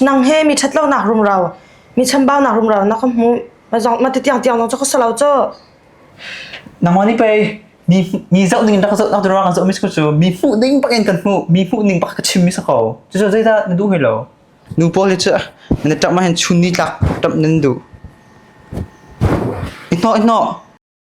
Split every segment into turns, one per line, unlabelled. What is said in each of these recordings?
nang he mi ṭhat lonak rumro, mi chambaunak rumro na ka hmuh. Ma zong ma ti tiang tiang zong cu ka si lo cu. Nangmah nih pei mi mi zoh ning in rak ka zoh nak tu ruang zoh mis ku cu mi hmuh ding pak in kan hmuh mi hmuh ning pak ka chim mi sa ko cu cu zeidah na duh hoi lo nu pawl hi cu na ṭap ma hin chun ni tlak ṭap nan duh ihno ihno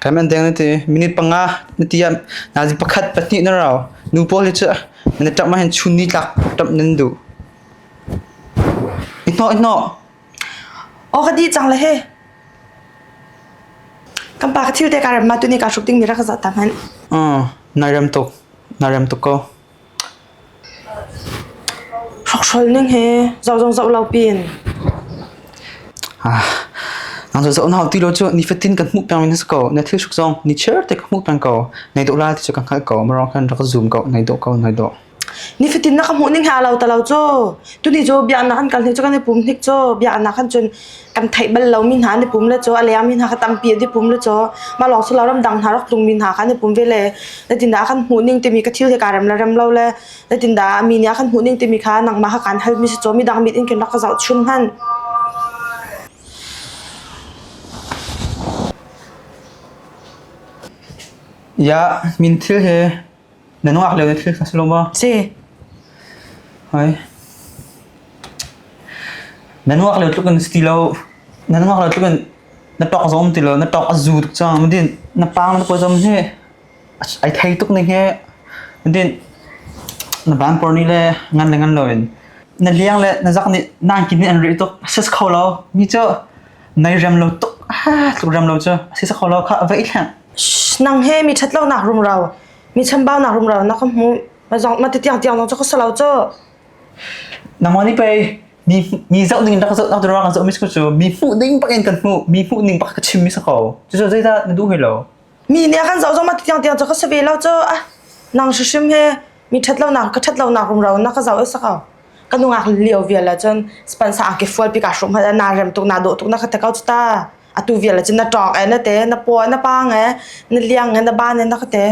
Kai man deng na ti. Minute panga na ti ah nazi pakhat pahnih na rau. Nu pawl hi cu na tap ma hen chun ni tlak tap nan du. Ihno ihno. Oh ka di cang le he. Kan pa ka thil te ka ram ma tu ni ka hruk ding mi rak za ta man. Ừ, nai rem tuk. Nai rem tuk ko. Hrawkhrol ning hi zoh zong zoh lo pin. Nang zoh zoh na hau ti lo cu nifatin kan hmuh peng in si ko. Na thil hruk zong ni chiar te ka hmuh peng ko. Nai dawh la ti cu ka hngalh ko. Marong khan rak zoom ko. Nai dawh ko. Nai dawh. Nifatin na ka hmuh ning hi aa lo ta lo cu. Tuni cu biaknak an kal hnik cu kan i pum hnik cu. Biaknak han cun kan theih bal lomi hna ni pum le chaw a leang mi hna kha tampi a dipum le chaw mah lawng su lo ram dang hna rak tung mi hna kha ni pum ve le natin dah kan hmuh ning timi ka thil he ka rem la rem lo le natin dah mi nih kan hmuh ning timi kha nangmah kha kan hal mi si chaw mi dang mit in ken rak ka zoh chun han ya min thil he Na nuak lio na thil kha si lo maw? Si. Hoi. Na nuak lio tluk in si ti lo. Na nuak lio tluk in na tok zom ti lo. Na tok a zu tuk cang. Din na pang na po zom hi. Ai thei tuk ni he. Din na ban por ni le ngan le ngan lo in. Na liang le na zak ni nang kin ni an ri tuk. Sis kho lo. Mi chu. Nai rem lo tuk. Ha tluk rem lo chu. Sis kho lo kha vai thleng. nang he mi ṭhat lonak rumro, mi chambaunak rumro na ka hmuh. Na zong na ti tiangtiang zong cu ka si lo cu. Nangmah nih pei mi mi zoh ning in rak zoh nak tu kan zoh mi cu mi hmuh ding bak in kan hmuh mi hmuh ning bak ka chim mi sa ko. Cu cu zeidah na duh hai lo? Mi nih a kan zoh zong ma ti tiangtiang cu ka si ve lo cu. Ah, nang hrim he mi ṭhat lonak ka ṭhat lonak rumro na ka zoh sa ko. Ka nungak lio vial ah cun spansa angki fual pi kaa hrum ha na rem tuk na dawh tuk na ka te ko cu ta. atu vial cun na ṭawk e na te na paw na paang e na liang e na ban e na ka te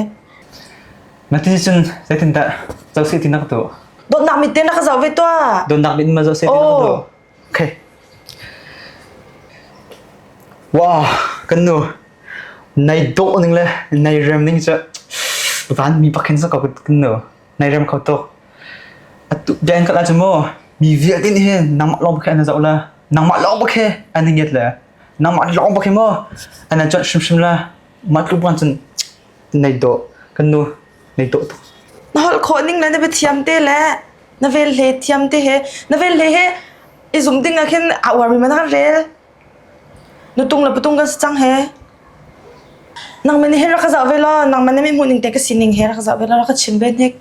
na ti cun zeitindah co si ti na ka tuah dotnak mit te na ka zoh ve tuah donnak mit ma zoh si ti na ka tuah okay wow kan nu nai dawh ning le nai rem ning cu van mi pakin sa ko kan nu Nai rem kho tuk. Atu bia in kal ah cun mu mi vialte nih hin nangmah lawng bakhe an zoh la nangmah lawng bakhe an ngiat le nangmah lawng bakhe mu an an cuanh hrimhrim la mah tluk bang cun nei do kan nu nei do tuk. Na holh khawh ning le na biathiam te le na vel hle thiam te he na vel hle he i zum ding ah khin a uarmi man han rel Nutung le patung kan si cang he. Nangmah nih he rak ka zah ve law, nangmah nih mi hmuh ning te ka sining he rak ka zah ve law, rak ka chim ve hnik.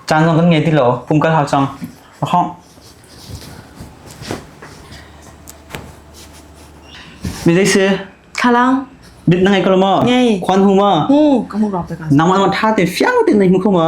Caan zong kan ngei ti lo. Kum kal hau cang. Ra hawh. Mi zei si? Thlalang. Bit na ngei ko lo maw? Ngei. Khuan hu ma? Hu. Ka hmu rok pe ka. Nangmah nangmah tha te fiang te na hmu kho ma?